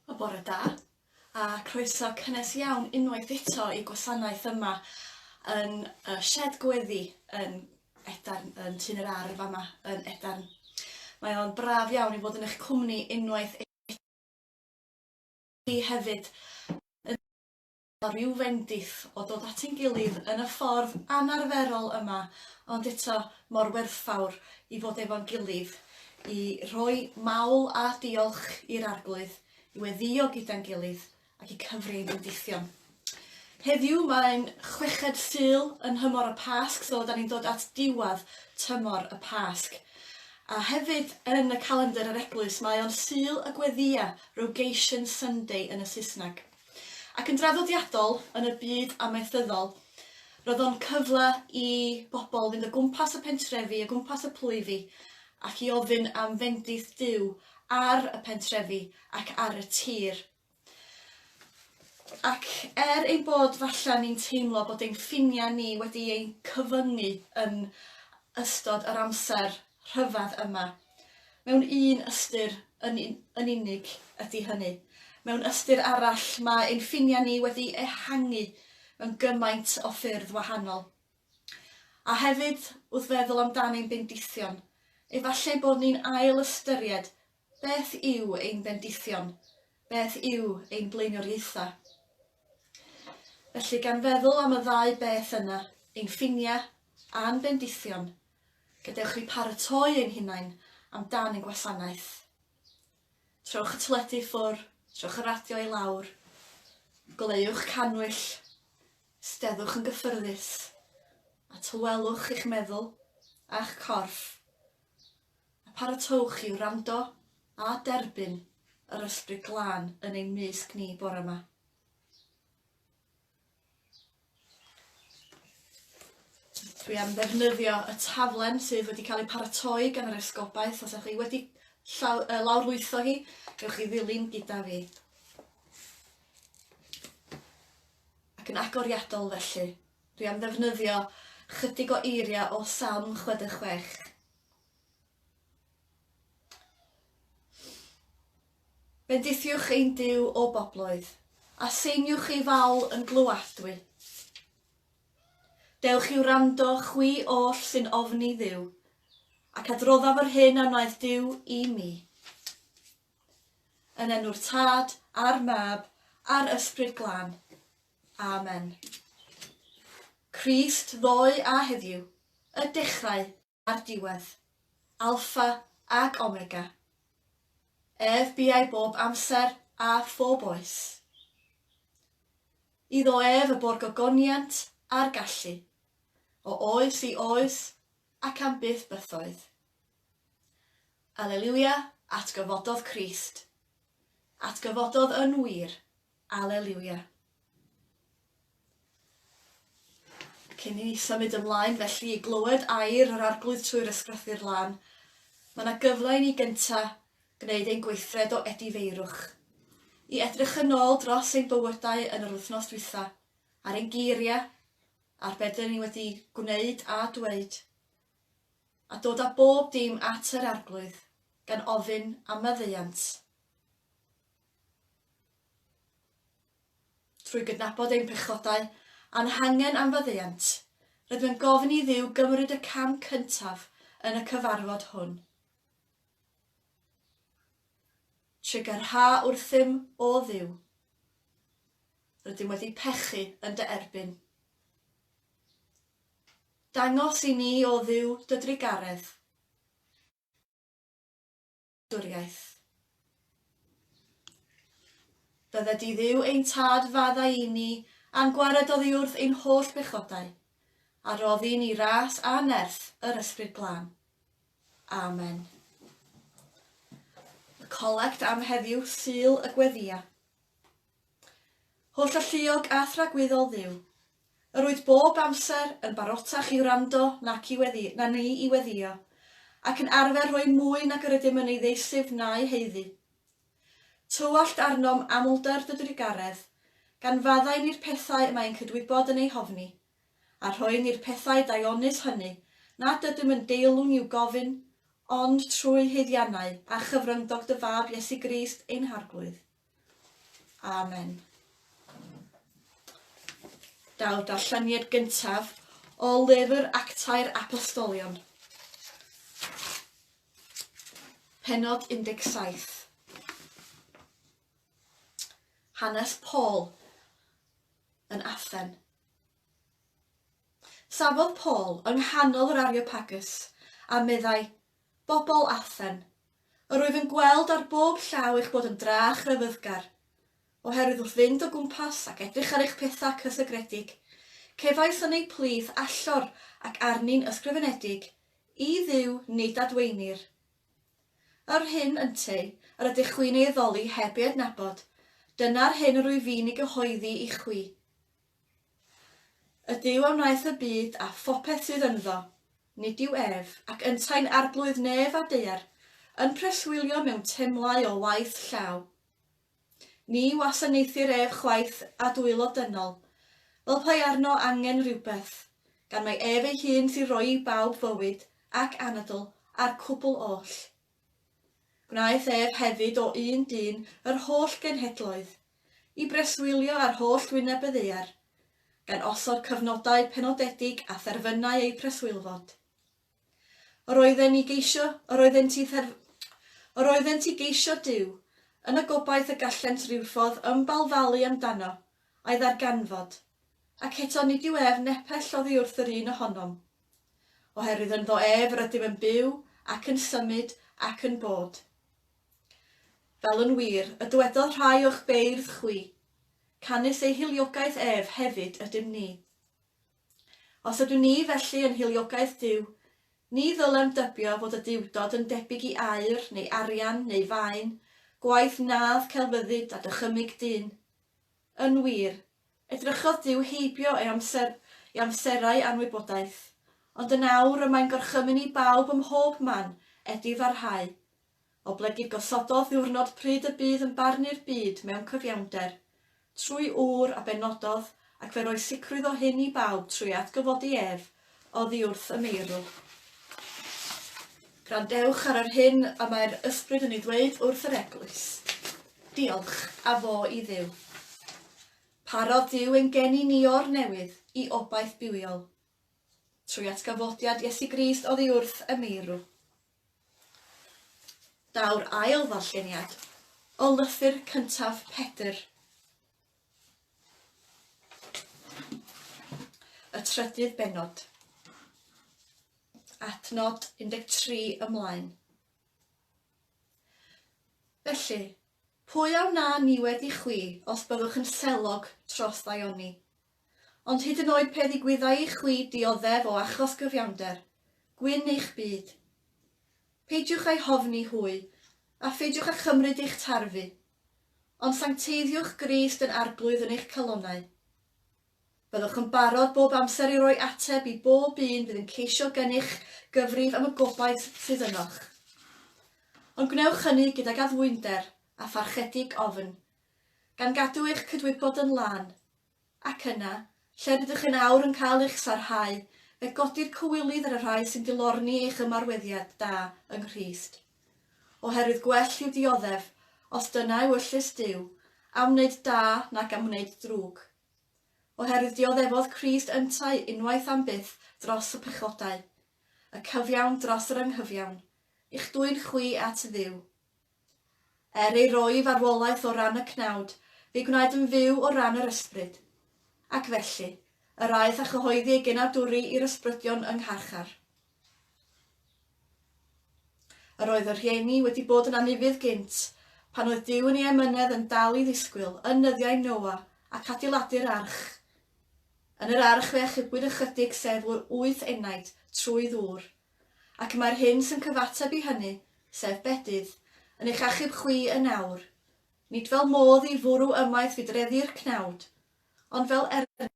Wel bore da, a croeso cynnes iawn unwaith eto i gwasanaeth yma yn y shed gweddi yn Edarn, yn Tyn yr Ardd fama yn Edarn. Mae o'n braf iawn i fod yn eich cwmni unwaith eto i hefyd yn a rhyw fendith o dod at ein gilydd yn y ffordd anarferol yma, ond eto mor werthfawr i fod efo'n gilydd, i rhoi mawl a diolch i'r Arglwydd, i weddïo gyda'n gilydd, ac i cyfri ein bendithion. Heddiw mae'n chweched Sul yn nhymor y Pasg, so da ni'n dod at diwadd tymor y Pasg. A hefyd yn y calendr yr eglwys mae o'n Sul y Gweddïa, Rogation Sunday yn y Saesneg. Ac yn draddodiadol, yn y byd amaethyddol, roedd o'n cyfle i bobl fynd o gwmpas y pentrefi, o gwmpas y plwyfi, ac i ofyn am fendith Duw ar y pentrefi ac ar y tir. Ac er ein bod falle ni'n teimlo bod ein ffiniau ni wedi ein cyfyngu yn ystod yr amser rhyfedd yma, Mewn un ystyr yn yn unig ydy hynny. Mewn ystyr arall, mae ein ffiniau ni wedi ehangu mewn gymaint o ffyrdd wahanol. A hefyd, wrth feddwl amdan ein bendithion, efallai bod ni'n ail-ystyried beth yw ein bendithion, beth yw ein blaenoriaethau. Felly, gan feddwl am y ddau beth yna, ein ffiniau a'n bendithion, Gadewch ni paratoi ein hunain am dan ein gwasanaeth. Trowch y teledu i ffwr, trowch y radio i lawr, goleuwch cannwyll, ysteddwch yn gyffyrddus, a tawelwch eich meddwl a'ch corff, a pharatowch i wrando a derbyn yr Ysbryd Glân yn ein mysg ni bore 'ma. Dwi am ddefnyddio y taflen sydd wedi cael ei paratoi gan yr Esgobaeth. Os ydych chi wedi llaw, uh, lawrlwytho hi, gewch chi ddilyn gyda fi. Ac yn agoriadol felly, dwi am ddefnyddio chydig o eiriau o Salm 66. Bendithiwch ein Duw o bobloedd, a seiniwch ei fawl yn glyw'adwy. Dewch i'w rando, chwi oll sy'n ofni Dduw, ac adroddaf yr hyn a wnaeth Duw i mi. Yn enw'r Tad, a'r Mab, a'r Ysbryd Glân. Amen. Crist ddoe a heddiw, y dechrau a'r diwedd, Alpha ac Omega. Ef buai bob amser a phob oes. Iddo ef y bo'r gogoniant a'r gallu, o oes i oes ac am byth bythoedd. Aleliwia, atgyfododd Crist. Atgyfododd yn wir. Aleliwia. Cyn i ni symud ymlaen felly i glywed air yr Arglwydd trwy'r Ysgrythyr Lan, mae yna gyfle i ni gynta' gwneud ein gweithred o edifeirwch, i edrych yn ôl dros ein bywydau yn yr wythnos dwytha, ar ein geiria', ar be' 'dyn ni wedi gwneud a dweud, a dod â bob dim at yr Arglwydd, gan ofyn am maddeuant. Trwy gydnabod ein pechodau a'n hangen am faddeuant, rydym yn gofyn i Dduw gymryd y cam cyntaf yn y cyfarfod hwn. Trigyrhaodd wrthym, O Dduw, rydym wedi pechu yn dy erbyn. Dangos i ni, O Dduw, dy drugaredd. Wladwriaeth. Bydde di Dduw ein Tad faddau i ni a'n gwared oddiwrth ein holl bechodau, a roddi ni ras a nerth yr Ysbryd Glân. Amen. Y colect am heddiw, Sul y Gweddïa. Holl alluog a thragwyddol Dduw. Yr wyt bob amser yn barotach i wrando nac i weddio, na ni i weddio, ac yn arfer rhoi mwy nag yr ydym yn ei ddeisyf na'i haeddu. Tywallt arnom amlder dy drugaredd, gan faddau ni'r pethau y mae ein cydwybod yn eu hofni, a rhoi ni'r pethau daionus hynny nad ydym yn deilwng i'w gofyn, ond trwy haeddiannau a chyfryngdog dy Fab Iesu Grist ein Harglwydd. Amen. Daw'r darlleniad gyntaf o lyfr Actau'r Apostolion. Penod 17. Hanes Paul yn Athen. Safodd Paul yng nghanol yr Ariopagus a meddai, Bobl Athen, Yr wyf yn gweld ar bob llaw eich bod yn dra a chrefyddgar. Oherwydd wrth fynd o gwmpas ac edrych ar eich pethau cysegredig, cefais yn eu plith allor ac arni'n ysgrifenedig, i Dduw nid adwaenir. Yr hyn ynteu, yr ydych chwi'n ei addoli heb ei adnabod, dyna'r hyn yr wyf i'n ei gyhoeddi i chwi. Y Duw a wnaeth y byd a phopeth sydd ynddo, nid yw ef, ac yntau'n arglwydd nef a daear, yn preswylio mewn temlau o waith llaw. Ni wasanaethir ef chwaith â dwylo dynol, fel peai arno angen rhywbeth, gan mae ef ei hun sy'n rhoi i bawb fywyd ac anadl a'r cwbl oll. Gwnaeth ef hefyd o un dyn yr holl genhedloedd, i breswylio ar holl wyneb y ddaear, gan osod cyfnodau penodedig a therfynau eu preswylfod. Yr oedden i geisio, yr oeddent i therf-, yr oeddent i geisio Duw, yn y gobaith y gallent rywffodd ymbalfalu amdano, a'i ddarganfod. Ac eto nid yw ef nepell oddi wrth yr un ohonom. Oherwydd ynddo ef rydym yn byw ac yn symud ac yn bod. Fel yn wir, y dwedodd rhai o'ch beirdd chwi, canys ei hiliogaeth ef hefyd ydym ni. Os ydw ni felly yn hiliogaeth Duw, ni ddylem dybio fod y Duwdod yn debyg i aur, neu arian, neu faen, gwaith nâdd celfyddyd a dychymyg dyn. Yn wir, edrychodd Duw heibio ei amser, ei amserau anwybodaeth. Ond yn awr y mae'n gorchymyn i bawb ym mhob man, edi farhau. Oblegid gosododd ddiwrnod pryd y bydd yn barnu'r byd mewn cyfiawnder. Trwy ŵr a benododd, ac fe roedd sicrwydd o hyn i bawb trwy atgyfodi ef Oddi wrth y meirw. Gwrandewch ar yr hyn y mae'r Ysbryd yn ei ddweud wrth yr Eglwys. Diolch, a fo i Dduw. Parodd Duw ein geni ni o'r newydd i obaith bywiol, trwy atgyfodiad Iesu Grist oddi wrth y meirw. Daw'r ail ddarlleniad o lythyr cyntaf Pedr. Y trydydd bennod. Adnod 13 ymlaen. Felly, pwy a wna niwed i chwi os byddwch yn selog tros ddaioni? Ond hyd yn oed pe ddigwyddai i chwi dioddef o achos gyfiawnder, gwyn eich byd. Peidiwch a'i hofni hwy, a pheidiwch â chymryd eich tarfu, Ond sancteiddiwch Grist yn Arglwydd yn eich calonnau. Byddwch yn barod bob amser i roi ateb i bob un fydd yn ceisio gennych gyfrif am y gobaith sydd ynoch. Ond gwnewch hynny gydag addfwynder a pharchedig ofn, gan gadw eich cydwybod yn lân Ac yna, lle rydych yn awr yn cael eich sarhau, fe godir cywilydd ar y rhai sy'n dilorni eich ymarweddiad da yng Nghrist. Oherwydd gwell yw dioddef, os dyna yw yllys Duw, am wneud da nac am wneud drwg. Oherwydd dioddefodd Crist yntau unwaith am byth dros y pechodau, y cyfiawn dros yr anghyfiawn, i'ch dwyn chwi at Dduw. Er ei roi farwolaeth o ran y cnawd, fe'i gwnaed yn fyw o ran yr ysbryd. Ac felly, yr aeth a chyhoeddi ei genadwri i'r ysbrydion yng ngharchar. Yr oedd y rhieni wedi bod yn anufudd gynt, pan oedd Duw yn ei emynedd yn dal i ddisgwyl, yn nyddiau Noa, ac adeiladu'r arch. Yn yr arch fe achubwyd ychydig sef wyth enaid, trwy ddŵr, Ac mae'r hyn sy'n cyfateb i hynny, sef bedydd, yn eich achub chwi yn awr, nid fel modd i fwrw ymaith fydreddi'r cnawd, ond fel ergyd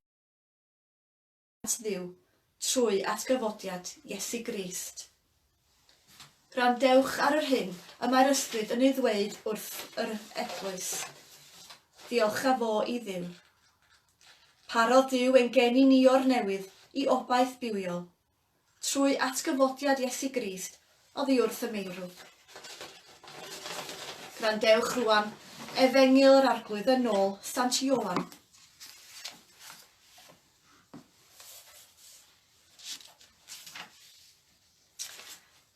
at Dduw, trwy atgyfodiad Iesu Grist. Gwrandewch ar yr hyn y mae'r Ysbryd yn ei ddweud wrth yr eglwys. Ddiolcha fo i Dduw. Parodd Duw ein geni ni o'r newydd i obaith bywiol, Trwy atgyfodiad Iesu Grist oddi wrth y meirw. Gwrandewch rwan, Efengyl yr Arglwydd yn ôl Sant Ioan.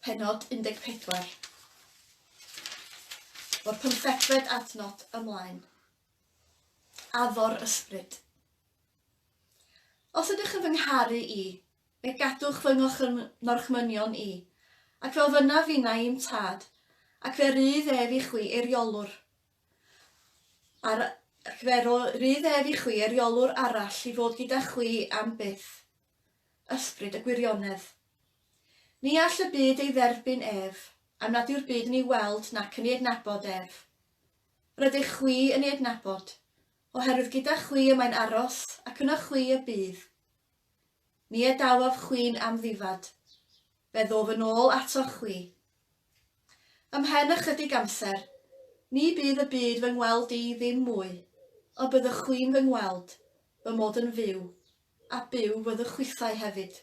Pennod 14. O'r pymthegfed adnod ymlaen. Addo'r Ysbryd. Os ydych yn fy ngharu i, fe gadwch fy ngorchmynion i, ac fel fynaf finau i'm tad, ac fe rydd ef i chwi eiriolwr ac fe rydd ef i chwi eiriolwr arall i fod gyda chwi am byth, ysbryd y gwirionedd. Ni all y byd ei dderbyn ef, am nad yw'r byd yn ei weld nac yn ei adnabod ef. Rydych chwi yn ei adnabod, Oherwydd gyda chwi y mae'n aros, ac yno chwi y bydd. Ni a dawaf chwi'n amddifad, fe ddof yn ôl atoch chwi. Ymhen ychydig amser, ni bydd y byd fy ngweld i ddim mwy, ond byddwch chwi'n fy ngweld, fy mod yn fyw, a byw fyddwch chwithau hefyd.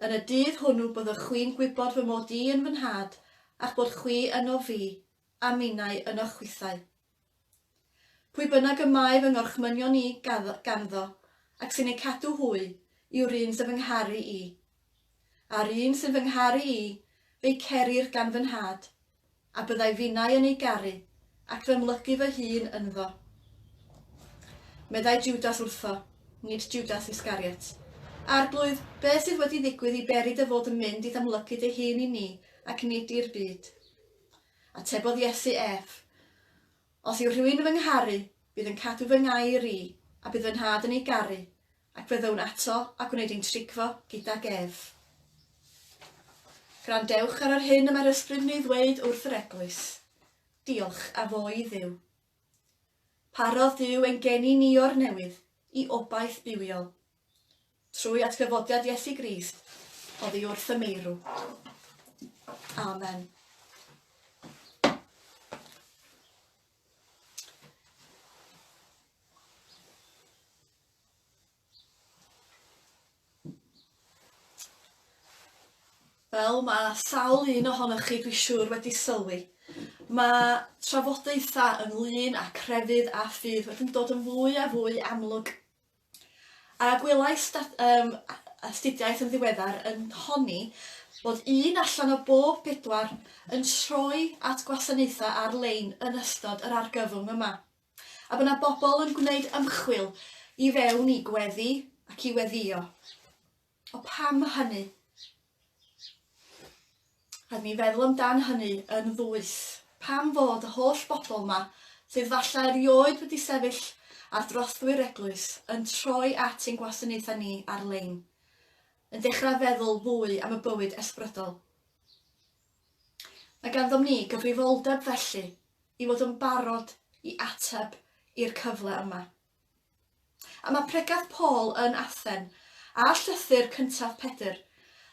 Yn y dydd hwnnw byddwch chwi'n gwybod fy mod i yn fy Nhad, a'ch bod chwi ynof fi, a minnau ynoch chwithau. Pwy bynnag y mae fy ngorchmynion i ganddo, ac sy'n eu cadw hwy, yw'r un sy'n fy ngharu i. A'r un sy'n fy ngharu i, fe'i cerir gan fy Nhad, a byddai finnau yn ei garu, ac fy mlygu fy hun ynddo. Meddai Jwdas wrtho, nid Jwdas Iscariot, Arglwydd, beth sydd wedi ddigwydd i beri dy fod yn mynd i'th amlygu dy hun i ni ac nid i'r byd? Atebodd Iesu ef, Os yw rhywun yn fy ngharu, bydd yn cadw fy ngair i, a bydd fy Nhad yn ei garu, ac fe ddyw'n ato a gwneud ein trigfo gydag ef. Gwrandewch ar yr hyn y mae'r ysbryd yn ei ddweud wrth yr eglwys. Diolch a fo i Dduw. Parodd Duw ein geni ni o'r newydd i obaith bywiol. Trwy atgyfodiad Iesu Grist oddi wrth y meirw. Amen. Wel, mae sawl un ohonoch chi, dwi siŵr, wedi sylwi. Mae trafodaethau ynglyn â crefydd a ffydd wedi'n dod yn fwy a fwy amlwg A gwelais dat, um, astudiaeth yn ddiweddar yn honni bod un allan o bob pedwar yn troi at gwasanaethau ar-lein yn ystod yr argyfwng yma, a bod yna bobl yn gwneud ymchwil i fewn i gweddi ac i weddïo. O pam hynny? Rhaid mi feddwl amdan hynny yn ddwys. Pam fod y holl bobl ma, sydd falle erioed wedi sefyll ar drothwy'r eglwys, yn troi at ein gwasanaethau ni ar-lein, yn dechrau feddwl fwy am y bywyd ysbrydol? Mae ganddom ni gyfrifoldeb felly i fod yn barod i ateb i'r cyfle yma. A mae pregeth Paul yn Athen, a llythyr cyntaf Pedr,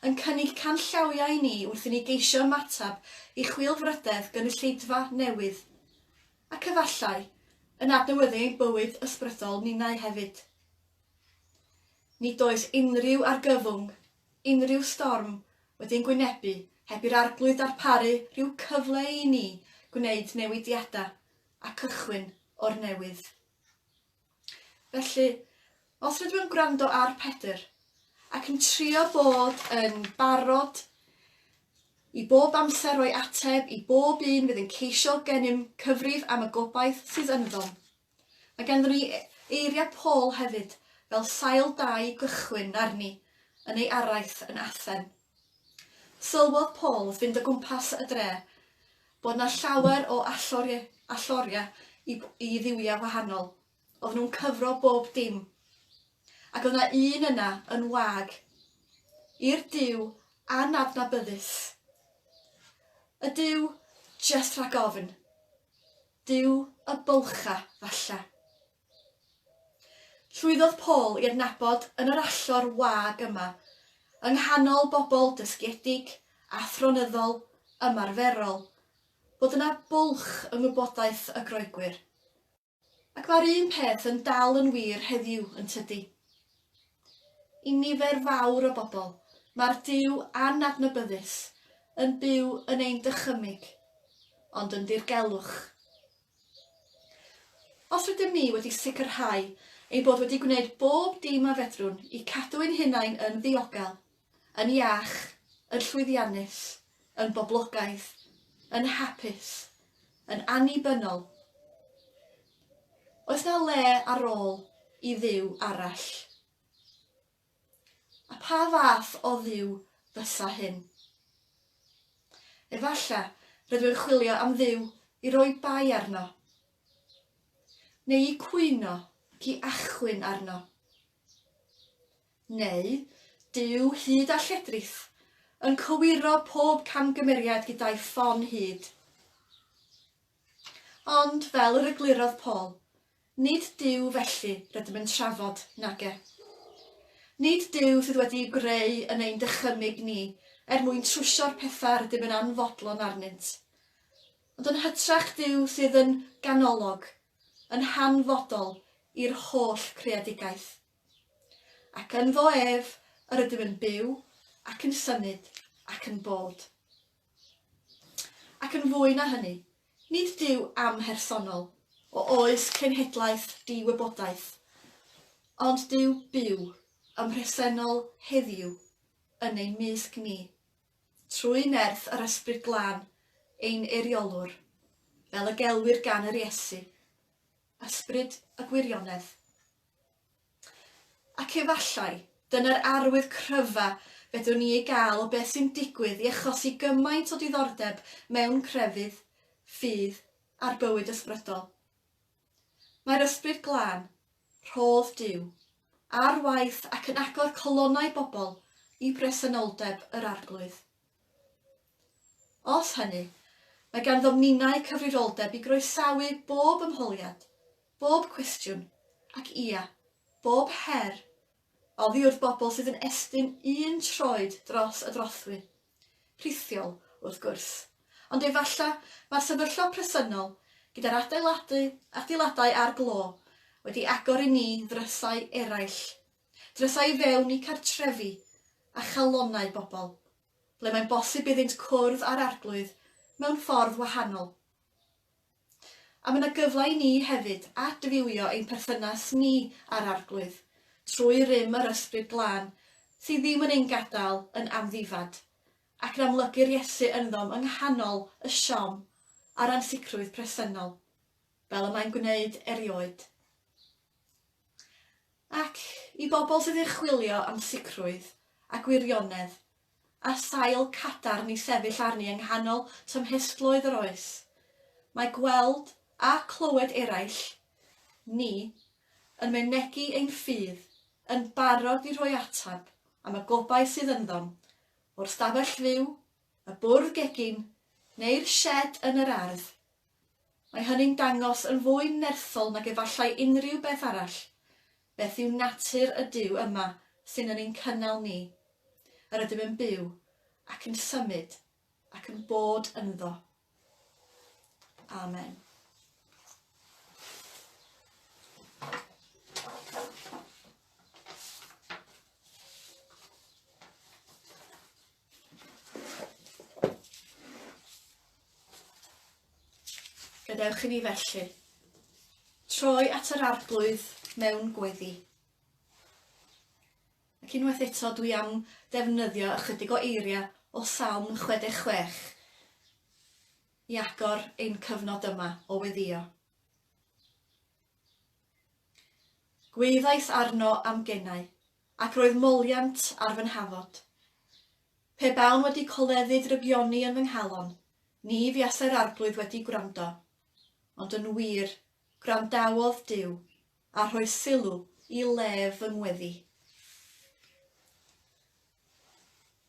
yn cynnig canllawiau i ni wrth i ni geisio ymateb i chwilfrydedd gynulleidfa newydd, ac efallai, yn adnewyddu ein bywyd ysbrydol ninnau hefyd. Nid oes unrhyw argyfwng, unrhyw storm, wedi ein gwynebu heb i'r Arglwydd darparu rhyw cyfle i ni gwneud newidiadau. a cychwyn o'r newydd. Felly, os rydw i'n gwrando ar Pedr ac yn trio bod yn barod i bob amser roi ateb i bob un fydd yn ceisio gennym cyfrif am y gobaith sydd ynddo. Mae ganddyn ni e- eiriau Paul hefyd, fel sail da i gychwyn arni yn ei araith yn Athen. Sylwodd Paul wrth fynd o gwmpas y dre bod 'na llawer o alloriau i dduwiau gwahanol, oedden nhw'n cyfro bob dim, ac oedd 'na un yna yn wag i'r Duw anadnabyddus, y Duw jyst rhag ofn, Duw y bylcha, falle. Llwyddodd Paul i adnabod yn yr allor wag yma, yng nghanol bobl dysgiedig, athronyddol, ymarferol, fod yna bwlch yng ngwybodaeth y Groegwyr. Ac mae'r un peth yn dal yn wir heddiw, yn tydi? I nifer fawr o bobl, mae'r Duw anadnabyddus yn byw yn ein dychymyg, ond yn ddirgelwch. Os rydym ni wedi sicrhau ein bod wedi gwneud bob dim a fedrwn i cadw ein hunain yn ddiogel, yn iach, yn llwyddiannus, yn boblogaidd, yn hapus, yn annibynnol, oes 'na le ar ôl i Dduw arall? A pha fath o Dduw fysa hyn? Efallai rydw i'n chwilio am Dduw i roi bai arno, neu i cwyno ac i achwyn arno. Neu Duw hud a lledrith, yn cywiro pob camgymeriad gyda'i ffon hud. Ond, fel yr eglurodd Paul, Nid Duw felly rydym yn trafod, nage? Nid Duw sydd wedi ei greu yn ein dychymyg ni er mwyn trwsio'r pethau rydym yn anfodlon arnynt. Ond yn hytrach Duw sydd yn ganolog, yn hanfodol i'r holl creadigaeth. Ac ynddo ef yr ydym yn byw ac yn symud ac yn bod. Ac yn fwy na hynny, nid Duw amhersonol, o oes cenhedlaeth di-wybodaeth, ond Duw byw, ym mhresennol heddiw, yn ein mysg ni, trwy nerth yr Ysbryd Glân, ein Eiriolwr, fel y gelwir gan yr Iesu, Ysbryd y Gwirionedd. Ac efallai, dyna'r arwydd cryfa fedrwn ni ei gael o beth sy'n digwydd i achosi gymaint o diddordeb mewn crefydd, ffydd, a'r bywyd ysbrydol. Mae'r Ysbryd Glân, rhodd Duw, ar waith ac yn agor calonnau bobl i bresenoldeb yr Arglwydd. Os hynny, mae ganddo minnau cyfrifoldeb i groesawu bob ymholiad, bob cwestiwn, ac ia, bob her, oddi wrth bobl sydd yn estyn un troed dros y drothwy. Rhithiol, wrth gwrs. Ond efallai mae'r sefyllfa presennol, gyda'r adeiladu, adeiladau a'r glo, wedi agor i ni ddrysau eraill Drysau i fewn i cartrefi a chalonnau bobl, ble mae'n bosib iddynt cwrdd â'r Arglwydd mewn ffordd wahanol. A mae yna gyfle i ni hefyd adfywio ein perthynas ni â'r Arglwydd trwy rym yr Ysbryd Glân sydd ddim yn ein gadael yn amddifad, ac yn amlygu'r Iesu ynddo'm yng nghanol y siom a'r ansicrwydd presennol, fel y mae'n gwneud erioed. Ac i bobl sydd yn chwilio am sicrwydd a gwirionedd a sail cadarn i sefyll arni yng nghanol tymhestloedd yr oes, mae gweld a clywed eraill, ni, yn mynegi ein ffydd, yn barod i roi ateb am y gobaith sydd ynddo'n, o'r stafell fyw, y bwrdd gegin, neu'r sied yn yr ardd, Mae hynny'n dangos yn fwy nerthol nag efallai unrhyw beth arall, beth yw natur y Duw yma sy'n yn ein cynnal ni, yr ydym yn byw, ac yn symud, ac yn bod ynddo. Amen. Gadewch i ni felly troi at yr arglwydd mewn gweddi. Ac unwaith eto dwi am ddefnyddio ychydig o eiriau o Salm 66 i agor ein cyfnod yma o weddio. Gwyddais arno am gennau, Ac roedd moliant ar fy nhafod. Pe bawn wedi coleddu drygioni yn fy nghalon, ni fuasai'r Arglwydd wedi gwrando. Ond yn wir, gwrandawodd Duw, a rhoi sylw i lef fy ngweddi.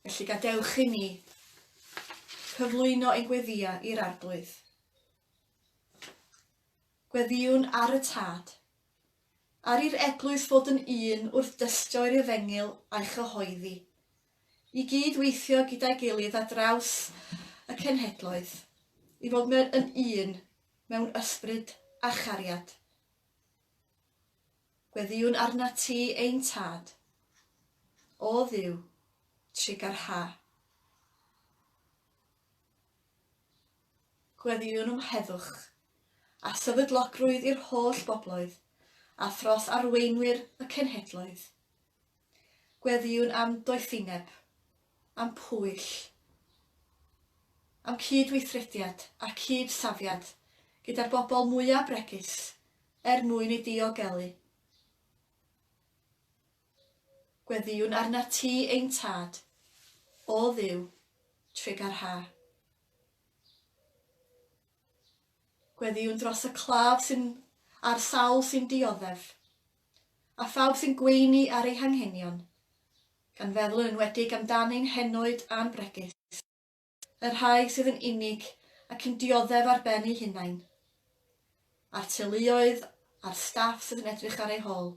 Felly gadewch i ni cyflwyno ein gweddïau i'r Arglwydd. Gweddïwn ar y Tad, Ar i'r eglwys fod yn un wrth dystio i'r efengyl a'i chyhoeddi. I gyd weithio gyda'i gilydd ar draws y cenhedloedd, i fod mewn yn un mewn ysbryd a chariad. Gweddïwn arnat ti, ein Tad. O Dduw, trigarha. Gweddïwn um heddwch a sefydlogrwydd i'r holl bobloedd a thros arweinwyr y cenhedloedd. Gweddïwn am doethineb, am pwyll, am cyd-weithrediad a cyd-safiad gyda'r bobl mwyaf bregus er mwyn ei diogelu. Gweddïwn arnat ti ein Tad, O Dduw, Tregar Ha. Gweddïwn dros y claf sy'n a'r sawl sy'n dioddef, a phawb sy'n gweini ar ei hanghenion, gan feddwl yn enwedig amdan ein henoed a'n bregus. y rhai sydd yn unig ac yn dioddef ar ben eu hunain, a'r teuluoedd a'r staff sydd yn edrych ar eu hôl.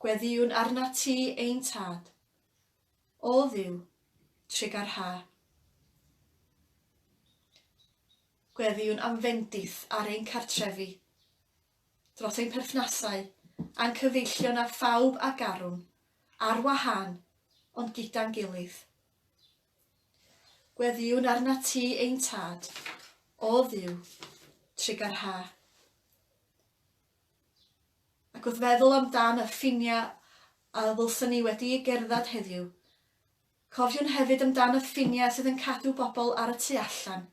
Gweddïwn arnat ti, ein Tad, o Dduw, trigar ha. Gweddïwn am fendith ar ein cartrefi. dros ein perthnasau a'n cyfeillion â phawb a garwn, ar wahân, ond gyda'n gilydd. Gweddïwn arnat ti, ein Tad, o Dduw, trig ar ha. Ac wrth feddwl amdan y ffiniau a ddylsyn ni wedi gerdded heddiw, cofiwn hefyd amdan y ffiniau sydd yn cadw bobl ar y tu allan,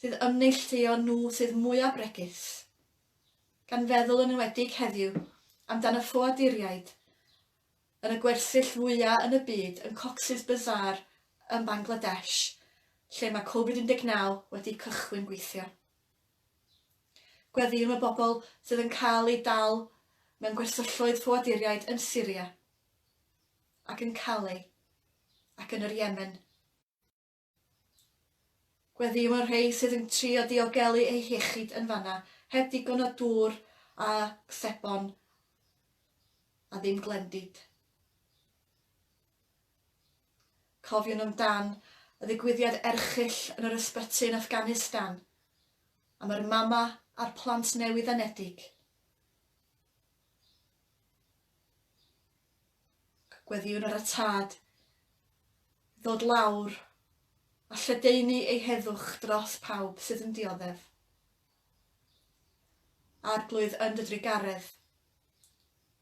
sydd yn neilltuo nhw sydd mwyaf bregus, gan feddwl yn enwedig heddiw amdan y ffoaduriaid yn y gwersyll fwyaf yn y byd yn Cox's Bazar yn Bangladesh lle mae Covid 19 wedi cychwyn gweithio. Gweddïwn y bobl sydd yn cael eu dal mewn gwersylloedd ffoaduriaid yn Syria ac yn Calais ac yn yr Yemen. Gweddïo ar rhei sydd yn trio diogelu eu hiechyd yn fanna heb ddigon o dŵr a sebon a ddim glendid. Cofiwn amdan y ddigwyddiad erchyll yn yr ysbyty yn Afghanistan am yr mama a'r plant newydd-anedig. Gweddïwn ar y tad ddod lawr a lledaenu ei heddwch dros pawb sydd yn dioddef. Arglwydd yn dy drugaredd,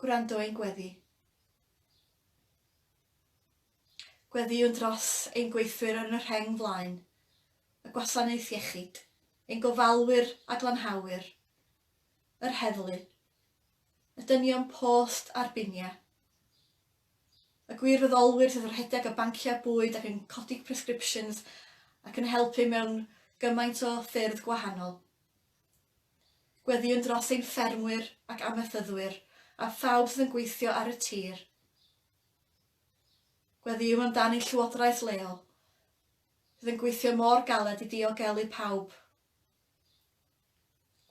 gwrando ein gweddi. Gweddïwn dros ein gweithwyr yn y rheng flaen, y gwasanaeth iechyd, ein gofalwyr a glanhawyr, yr heddlu y dynion post a'r biniau, y gwirfoddolwyr sydd yn rhedeg y banciau bwyd ac yn codi prescriptions ac yn helpu mewn gymaint o ffyrdd gwahanol, gweddïwn dros ein ffermwyr ac amaethyddwyr a phawb sydd yn gweithio ar y tir, gweddïwn amdan ein llywodraeth leol sydd yn gweithio mor galed i diogelu pawb.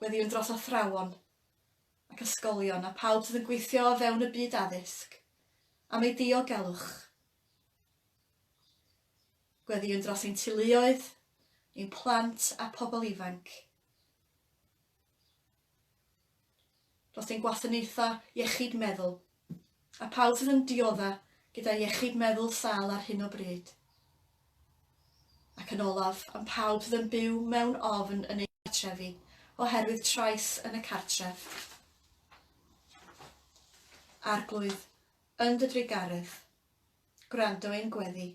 gweddïwn dros athrawon ac ysgolion a phawb sydd yn gweithio o fewn y byd addysg am eu diogelwch. Gweddïwn dros ein teuluoedd, ein plant a pobl ifanc. Dros ein gwasanaethau iechyd meddwl a phawb sydd yn diodda' gyda iechyd meddwl sâl ar hyn o bryd. Ac yn olaf, am pawb sydd yn byw mewn ofn yn eu cartrefi oherwydd trais yn y cartref. Arglwydd, yn dy drugaredd, gwrando ein gweddi.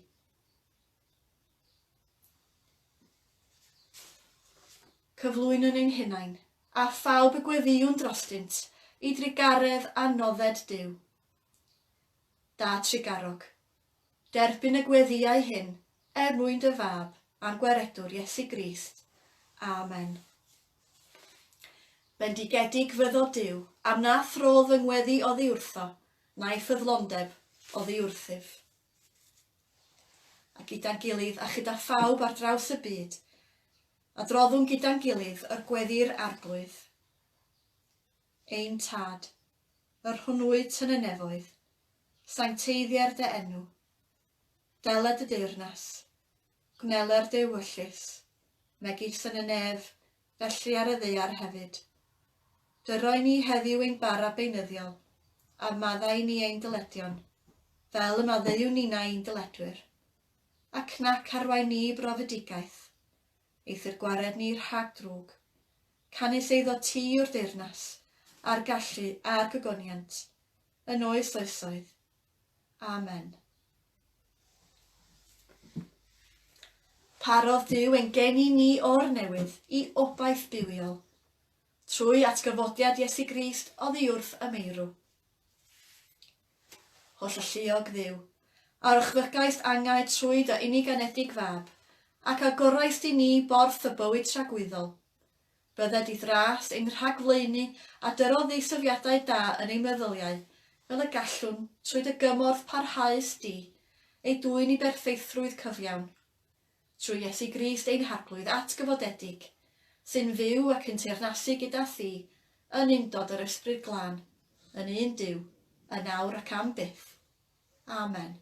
cyflwynon ein hunain, a phawb y gweddïwn drostynt, i drugaredd a nodded Duw. Da trugarog, derbyn y gweddïau hyn er mwyn dy Fab a'n Gwaredwr Iesu Grist. Amen. Bendigedig fyddo Duw, am na throdd fy ngweddi oddi wrtho, na'i ffyddlondeb oddi wrthyf. a gyda'n gilydd a chyda phawb ar draws y byd, adroddwn gyda'n gilydd yr gweddi'r Arglwydd. Ein Tad, yr hwnwyd yn y nefoedd, sancteiddier dy enw. Dela dy deyrnas. Gwnelai'r dewyllys, megis yn y nef, felly ar y ddaear hefyd. Dyroi ni heddiw ein bara beunyddiol, a maddau ni ein dyledion, fel y maddeuwn ninau i'n dyledwyr. Ac nac arwain ni i brofedigaeth, eithr gwared ni rhag drwg. Canys eiddo ti yw'r deyrnas, a'r gallu, a'r gogoniant, yn oes oesoedd. Amen. Parodd Duw ein geni ni o'r newydd i obaith bywiol, trwy atgyfodiad Iesu Grist oddi wrth y meirw. Holl alluog ddiw, a rychfygaist angau trwy dy uniganedig fab, ac a goraist i ni borth y bywyd tragwyddol, Bydde dithras ein rhagflaenu a dyrodd ddiysyfiadau da yn eu meddyliau, fel y gallwn, trwy dy gymorth parhaus di, eu dwyn i berffeithrwydd cyfiawn. Trwy Iesu Grist ein Harglwydd atgyfodedig, sy'n fyw ac yn teyrnasu gyda thi yn undod yr Ysbryd Glân, yn un Duw, yn awr ac am byth. Amen.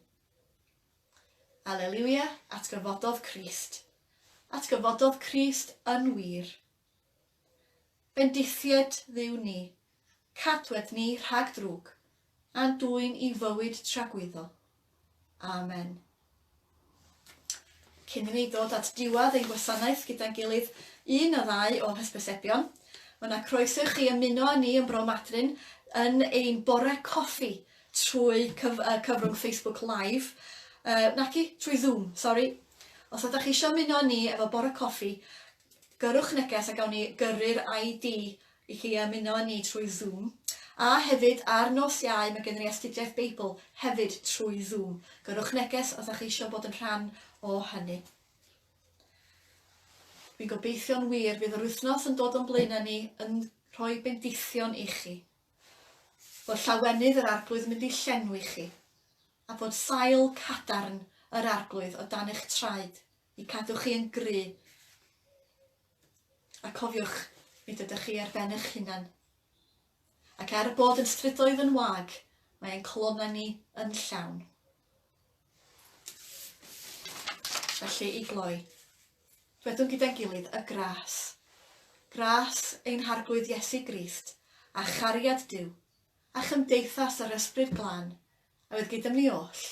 Aleliwia, atgyfododd Crist. Atgyfododd Crist yn wir. Bendithied Dduw ni, cadwed ni rhag drwg, a'n dwyn i fywyd tragwyddo. Amen. Cyn i ni ddod at diwedd ein gwasanaeth gyda'n gilydd un a ddau o hysbysebion, mae yna croeso i chi ymuno â ni yn Bro Madryn yn ein bore coffi trwy cyf y cyfrwng Facebook Live, yy naci, trwy Zoom, sori. Os ydach chi eisiau ymuno â ni efo bore coffi, gyrrwch neges a gawn ni gyrru'r ID i chi ymuno â ni trwy Zoom. A hefyd, ar nos Iau, mae gennym ni astudiaeth Beibl, hefyd trwy Zoom. Gyrrwch neges os ydach chi eisiau bod yn rhan o hynny. Fi'n gobeithio'n wir fydd yr wythnos yn dod o'n blaenau ni yn rhoi bendithion i chi. fod llawenydd yr Arglwydd yn mynd i llenwi chi, a bod sail cadarn yr Arglwydd o dan eich traed, i cadw chi yn gry'. A cofiwch, nid ydych chi ar ben eich hunan. Ac er bod yn strydoedd yn wag, mae ein colonnau ni yn llawn. Felly, i gloi, dwedwn gyda'n gilydd y gras. Gras ein Harglwydd Iesu Grist, a chariad Duw, a chymdeithas yr Ysbryd Glân, a fydd gyda ni oll,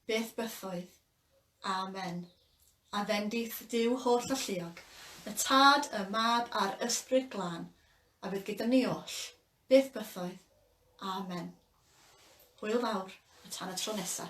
beth bythoedd. Amen. A fendith Duw holl alluog, y Tad, y Mab a'r Ysbryd Glân, a fydd gyda ni oll, Beth bythoedd. Amen. Hwyl fawr a tan y tro nesa.